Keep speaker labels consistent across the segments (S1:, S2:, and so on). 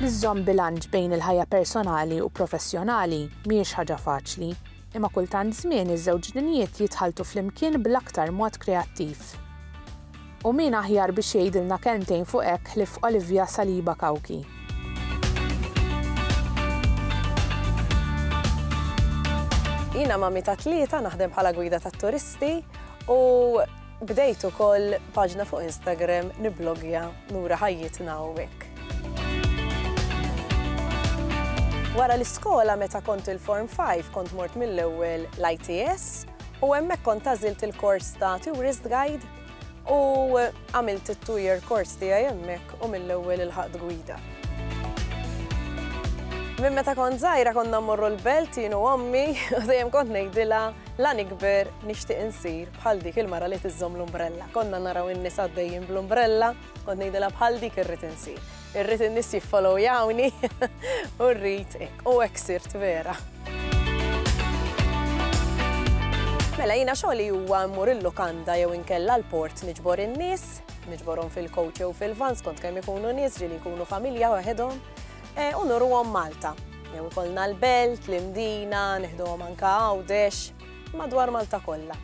S1: Li żżomm bilanċ bejn il-ħajja personali u professjonali mhijiex ħaġa faċli, imma kultant żmien iż-żewġ dinjiet jitħalltu flimkien bl-aktar mod kreattiv. U min aħjar biex jgħidilna kelmtejn fuq hekk ħlief Olivia Saliba Cauchi. Jiena mammi ta' tlieta, naħdem bħala gwida tat-turisti u bdejt ukoll paġna fuq Instagram nibblogja nura ħajjitna hawnhekk. Wara l-iskola meta kont il-Form 5 kont mort mill-ewwel l-ITS u hemmhekk kont għażilt il-kors ta' Tourist Guide. U għamilt it-two year course tiegħi hemmhekk u mill-ewwel ilħaqt gwida. Minn meta kont żgħira konna mmorru l-belt jien u ommi u dejjem kont ngħidilha la nikber nixtieq insir bħal dik il-mara li tiżżomm l-umbrella. Konna naraw in-nisa għaddejjin bl-umbrella. Kont ngħidilha bħal dik irrid insir. Irrid in-nies jiffollowjawni u rrid hekk. U hekk sirt vera. Mela jiena xogħli huwa mmur il-lukanda jew inkella l-port niġbor in-nies, niġborhom fil-coach jew fil-van skont kemm ikunu nies ġieli jkunu familja waħedhom e, u nurruhom Malta. Jew ikollna l-belt, l-imdina, nieħduhom anka għawdex. madwar Malta kollha.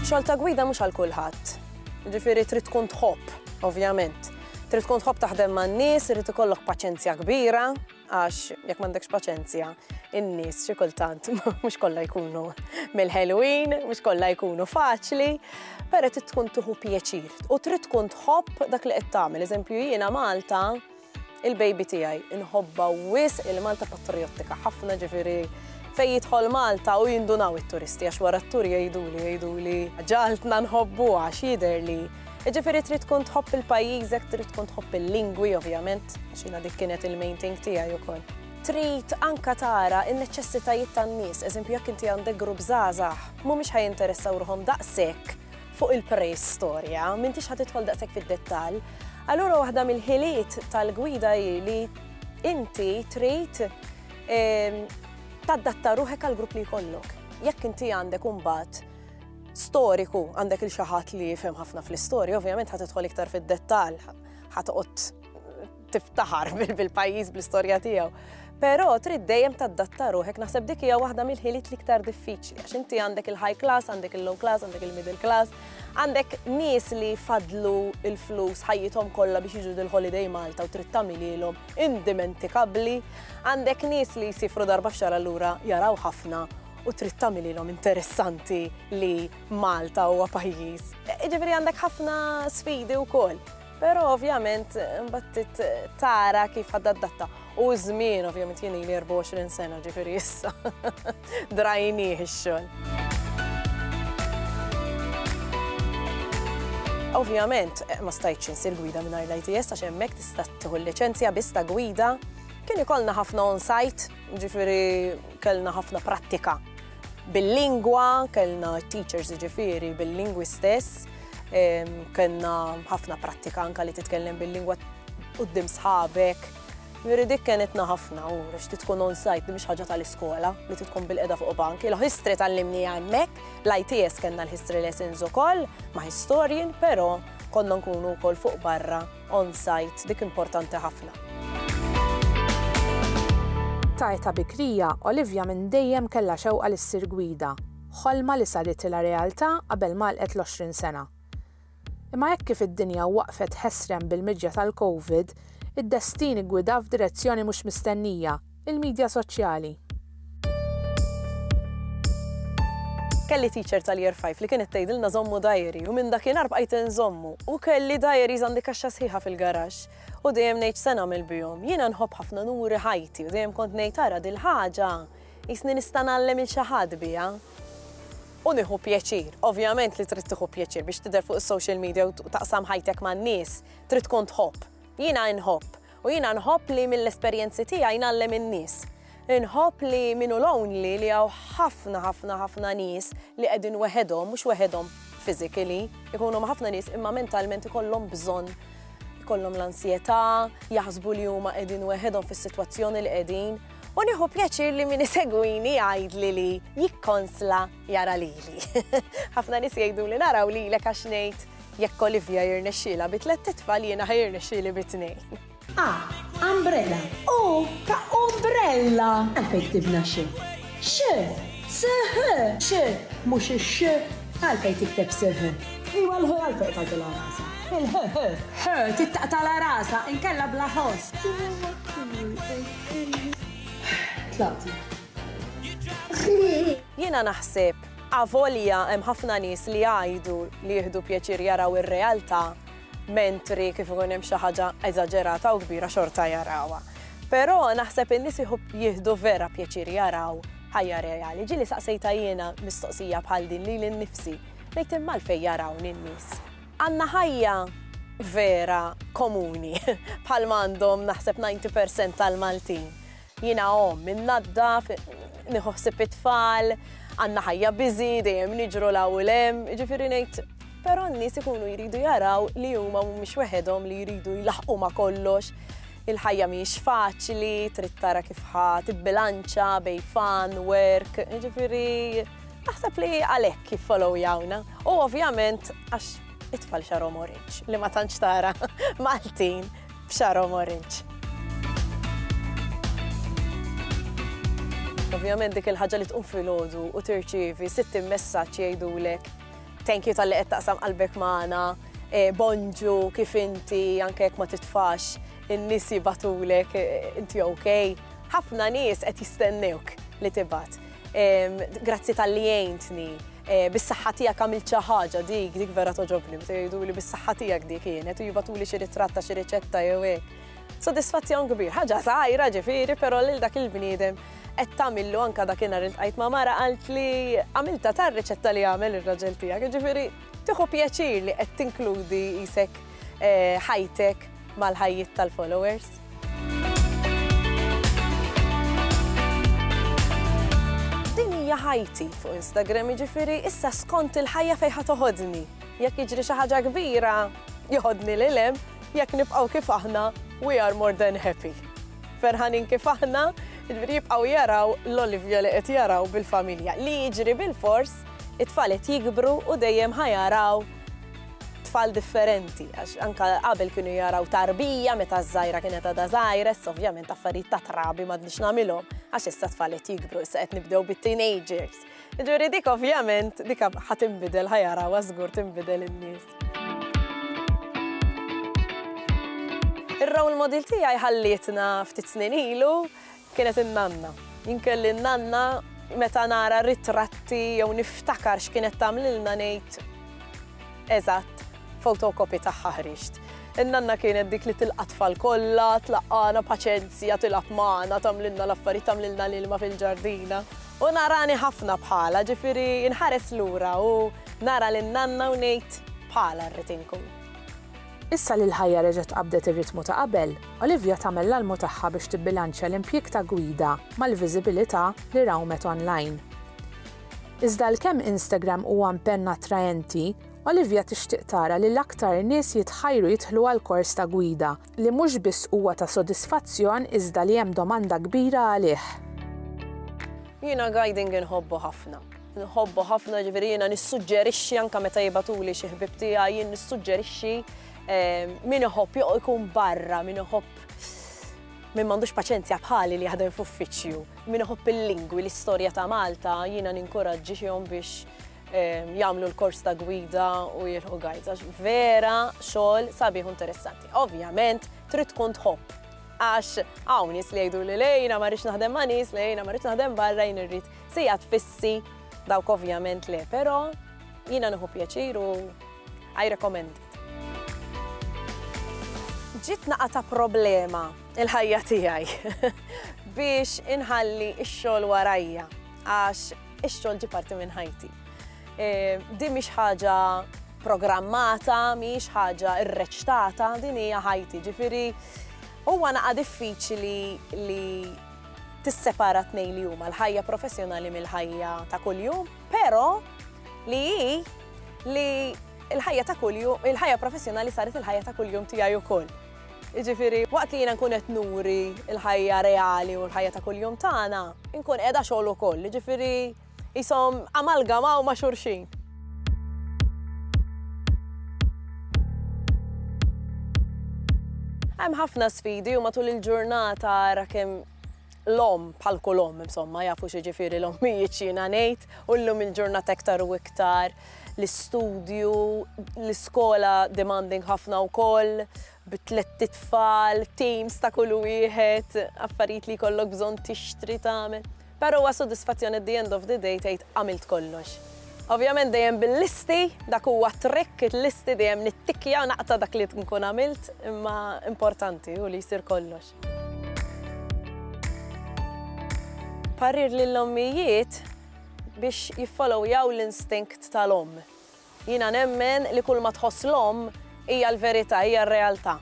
S1: Xogħol ta' gwida mhux għal kulħadd. Jiġifieri trid tkun tħobb, ovvjament. Trid tkun tħobb taħdem man-nies, irid ikollok paċenzja kbira, għax jekk m'għandekx paċenzja, in-nies xi kultant mhux kollha jkunu mill-ħelwin, mhux kollha jkunu faċli, però trid tkun tuħu pjaċir u trid tkun tħobb dak li qed tagħmel. Eżempju jiena Malta Il-baby tiegħi inħobba wisq il-Malta patrijottika ħafna ġifieri fejn jidħol Malta u jindunaw it-turisti għax wara t-tur jgħiduli jgħiduli ġaltna nħobbu għax jidher li Ġifieri trid tkun tħobb il-pajjiżek, trid tkun tħobb il-lingwi ovvjament, għax jiena dik kienet il-main thing tiegħi wkoll. Trid anka tara n-neċessitajiet tan-nies, eżempju jekk inti għandek grupp żgħażagħ, mhumiex ħajinteressaw ruħhom daqshekk fuq il-preistorja, m'intix ħa tidħol daqshekk fid-dettall. Allura waħda mill-ħiliet tal-gwida hi li inti trid ehm, taddatta ruħek għal grupp li jkollok. Jekk inti għandek imbagħad storiku għandek il xaħat li jifhem ħafna fl-istorja, ovvjament ħad tidħol iktar fid-dettall, ħad tiftaħar bil-pajjiż bl-istorja tiegħu. Però trid dejjem taddatta ruħek naħseb dik hija waħda mill-ħiliet l-iktar diffiċli għax inti għandek il-high class, għandek il-low class, għandek il-middle class, għandek nies li fadlu il-flus ħajjithom kollha biex jiġu dil-holiday Malta u trid tagħmililhom indimentikabbli, għandek nies li jsifru darba f'xar allura jaraw ħafna u trid tagħmililhom interessanti li Malta huwa pajjiż. Iġifieri għandek ħafna sfidi wkoll. Pero ovvjament, mbattit tara kif għadda d-datta. U żmien ovvjament jien li 24 sena ġifiri issa. Drajni xol. Ovvjament, eh, ma stajċ insir gwida minn l-ITS għax hemmhekk tista' tieħu l-liċenzja biss ta' gwida. Kien ikollna ħafna on-site Jiġifieri kellna ħafna prattika bil-lingwa, kellna t-teachers jiġifieri bil-lingwi stess, kellna ħafna prattika anke li titkellem bil-lingwa quddiem sħabek. Jiġifieri dik kenitna ħafna u għax trid tkun on-site li mhix ħaġa tal-iskola li trid tkun bilqiegħda fuq bank. Il-history tgħallimniha hemmhekk, l-ITS kellna l-history lessons ukoll ma' historian, però konna nkunu wkoll fuq barra. on-site, dik importanti ħafna. Ta' età bikrija, Olivia minn dejjem kellha xewqa li ssir gwida, ħolma li saritilha realtà qabel m'għalqet l-20 sena. Imma hekk kif id-dinja waqfet ħesrem bil-miġja tal-Covid, id-destin iggwidha f'direzzjoni mhux mistennija, Il-midja soċjali. Kelli teacher tal-Year Five li kienet tgħidilna żommu diary u minn dakinhar bqajt inżommu u kelli diaries għandi kaxxa sħiħa fil-garaxx u dejjem ngħid se nagħmel bihom. Jiena nħobb ħafna nuri ħajti u dejjem kont ngħid ara dil-ħaġa jisni nista' ngħallem il xi ħadd biha u nieħu pjaċir. Ovvjament li trid tieħu pjaċir biex tidher fuq is-social media u taqsam ħajtek man-nies, trid tkun tħobb. Jiena nħobb U jiena nħobb li mill-esperjenzi tiegħi ngħallem in-nies. Inħobb li min hu lonely li hawn ħafna ħafna ħafna nies li qegħdin weħedhom, mhux weħedhom physically, ikunu ma' ħafna nies imma mentalment ikollhom bżonn ikollhom l-ansjetà, jaħsbu li huma qegħdin weħedhom fis-sitwazzjoni li qegħdin. U nieħu pjaċir li min isegwini jgħidli li jikkonsla jara lili. Ħafna nies jgħiduli naraw lilek għax ngħid jekk Olivia jirnexxielha bi tlett itfal jiena ħa jirnexxieli bi tnejn. A, umbrella. U ta' umbrella. Għalfejn ktibna xi? X, sħ, x, mhux ix, għalfejn tikteb sħ? Iwa l-ħ għalfejn tagħtilha rasa. Il-ħ, ħ, ħ, tittaqtala rasa, inkella bla ħoss. Tlaqt. Jiena naħseb, avolja hemm ħafna nies li jgħidu li jieħdu pjaċir jaraw ir-realtà, mentri kif ikun hemm xi ħaġa eżaġerata u kbira xorta jarawha. Però naħseb in-nies jieħdu vera pjaċir jaraw ħajja reali. Ġieli saqsejta jiena mistoqsija bħal din lili nnifsi, ngħid imma għalfejn jarawni n-nies. Għandna ħajja vera komuni bħalma għandhom naħseb 90% tal-Maltin. Jiena omm, innaddaf, nieħu ħsieb it-tfal, għandna ħajja busy, dejjem niġru 'l hawn u 'l hemm, jiġifieri ngħid, però n-nies ikunu jridu jaraw li huma mhumiex weħedhom li jridu jlaħħqu ma' kollox. Il-ħajja mhijiex faċli, trid tara kif ħa tibbilanċa bejn fun, work, jiġifieri naħseb li għalhekk jiffollowyawna. U ovvjament għax it-tfal xagħarhom orange li ma tantx tara Maltin. b'xagħarhom orange. Ovvjament dik il-ħaġa li tqum filgħodu u tirċievi 60 messaġġ jgħidulek thank you tal-li qed taqsam qalbek magħna, eh, bonġu kif inti anke jekk ma titfax in-nies jibatulek eh, inti okay. Ħafna nies qed jistennewk li tibgħat. Grazzi tal-li jgħintni. Bis-saħħa tiegħek għamilt xi ħaġa dik, dik vera toġobni, meta jgħiduli bis-saħħa tiegħek dik kienet u jibatuli xi ritratt ta' xi riċetta jew hekk. Sodisfazzjon kbir, ħaġa żgħira ġifieri, però lil dak il-bniedem qed tagħmillu anke dakinhar iltqajt ma' mara qalt li għamiltha ta' riċetta li għamel ir-raġel tiegħek, jiġifieri tieħu pjaċir li qed tinkludi qisek ħajtek mal-ħajjiet tal-followers. Din hija ħajti fuq Instagram jiġifieri issa skont il-ħajja fejn ħa toħodni. Jekk jiġri xi ħaġa kbira, joħodni lil hemm, jekk nibqgħu kif aħna, we are more than happy. Ferħanin kif aħna, jiġifieri jibqgħu jaraw l-Olivia li qed jaraw bil-familja. Li jiġri bil-fors, it-tfal qed jikbru u dejjem ħa jaraw tfal differenti, għax anka qabel kienu jaraw tarbija meta żgħira kienet għadha żgħira, issa ovvjament affarijiet ta' trabi m'għadniex nagħmilhom, għax issa tfal qed jikbru, issa qed nibdew bit-teenagers. Ġuri dik ovvjament dik ħa tinbidel ħa jaraw żgur tinbidel in-nies. Ir-role model tiegħi ħallietna ftit snin ilu Kienet in-nanna. Jien kelli n-nanna meta nara ritratti jew niftakar x'kienet tagħmlilna ngħid, Eżatt, photocopy tagħha ħriġt. In-nanna kienet dik li tilqa' t-tfal kollha, tlaqqagħna paċenzja, tilgħab magħna, tagħmlilna l-affarijiet, tagħmlilna l-ilma fil-ġardina. U narani ħafna bħalha, ġifieri nħares lura u nara lin-nanna u ngħid, Bħalha rrid inkun. Issa li l-ħajja reġgħet qabdet ir-ritmu ta' qabel, Olivia tagħmel l-almu tagħha biex tibbilanċja l-impjieg ta' gwida mal-viżibilità li rawmet online. Iżda għalkemm Instagram huwa mpenn attraenti, Olivia tixtieq tara li l-aktar nies jitħajru jidħlu għal kors ta' gwida li mhux biss huwa ta' sodisfazzjon iżda li hemm domanda kbira għalih. Jiena guiding inħobbu ħafna. Nħobbu ħafna ġifieri jiena nissuġġerixxi anke meta jibgħatuli xi ħbieb tiegħi jien nissuġġerixxi ehm, min iħobb ikun barra, min iħobb min m'għandux paċenzja bħali li jaħdem f'uffiċċju, min iħobb il-lingwi, l-istorja ta' Malta, jiena ninkoraġġi xihom biex ehm, jagħmlu l-kors ta' gwida u jilħu gajza. Vera xogħol sabiħ interessanti. Ovvjament trid tkun tħobb għax hawn nies li jgħidu li lejna ma rridx naħdem ma' nies, lejna ma rridx naħdem barra jien irrid Sigħat fissi, dawk ovvjament le, però jiena nieħu pjaċir u I recommend it. Ġiet naqatgħa problema l-ħajja tiegħi biex inħalli x-xogħol warajja għax ix-xogħol ġie parti minn ħajti. Din mhix ħaġa programmata, mhix ħaġa rreċtata, din hija ħajti. Ġifieri huwa naqa' diffiċli li tissepara t-tnejn li huma l-ħajja professjonali mill-ħajja ta' kuljum, però li hi li l-ħajja ta' kuljum, il-ħajja professjonali saret il-ħajja ta' kuljum tiegħi wkoll. Jiġifieri waqt li jiena nkun qed nuri l-ħajja reali u l-ħajja ta' kuljum tagħna, inkun qiegħda xogħol ukoll, jiġifieri, qishom amalgamaw ma' xulxin. Hemm ħafna sfidi u matul il-ġurnata ara kemm l-omm bħal kull omm insomma jafu x'jiġifieri l-ommijiet x'jiena ngħid u llum il-ġurnata iktar u iktar l-istudju, l-iskola demanding ħafna wkoll, bi tlett itfal, teams ta' kull wieħed, affarijiet li jkollok bżonn tixtri tagħmel. Però huwa sodisfazzjon at the end of the day tgħid għamilt kollox. Ovvjament dejjem bil-listi, dak huwa trick il-listi dejjem nittikja u naqta' dak li nkun għamilt, imma importanti u li jsir kollox. Parir lill-ommijiet biex jiffolowjaw l-instinkt tal-omm. Jiena nemmen li kulma tħoss l-omm hija l-verità, hija r-realtà.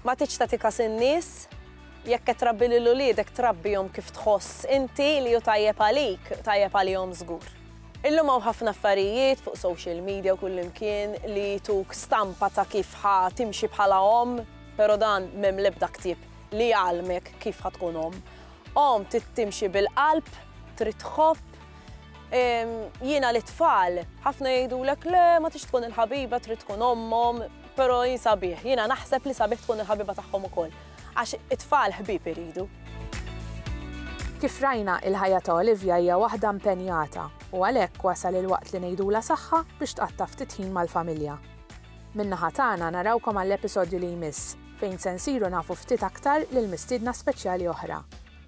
S1: Ma tridx tagħti kas in-nies, jekk qed trabbi lil uliedek trabbihom kif tħoss inti li hu tajjeb għalik, tajjeb għalihom żgur. Illum hawn ħafna affarijiet fuq social media u kullimkien li jtuk stampa ta' kif ħa timxi bħala omm, però dan m'hemm l-ebda ktieb li jgħallmek kif ħa tkun omm. Omm trid timxi bil-qalb, trid tħobb, Jiena li tfal, ħafna jgħidulek le ma tix tkun il-ħabiba trid tkun ommhom, però jien sabiħ, jiena naħseb li sabiħ tkun il-ħabiba tagħhom ukoll. Għax it-tfal ħbieb iridu. Kif rajna, il-ħajja ta' Olivia hija waħda impenjata u għalhekk wasal il-waqt li ngħidulha saħħa biex tqatta' ftit ħin mal-familja. Min-naħa tagħna narawkom għall-episodju li jmiss fejn se nsiru nafu ftit aktar lill-mistiedna speċjali oħra.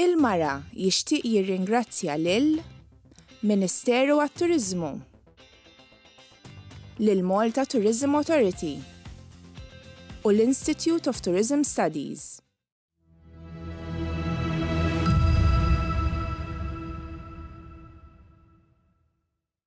S1: Il-Mara jixtieq jirringrazzja lil Ministeru għat-Turiżmu, lill-Malta Tourism Authority u l-Institute of Tourism Studies.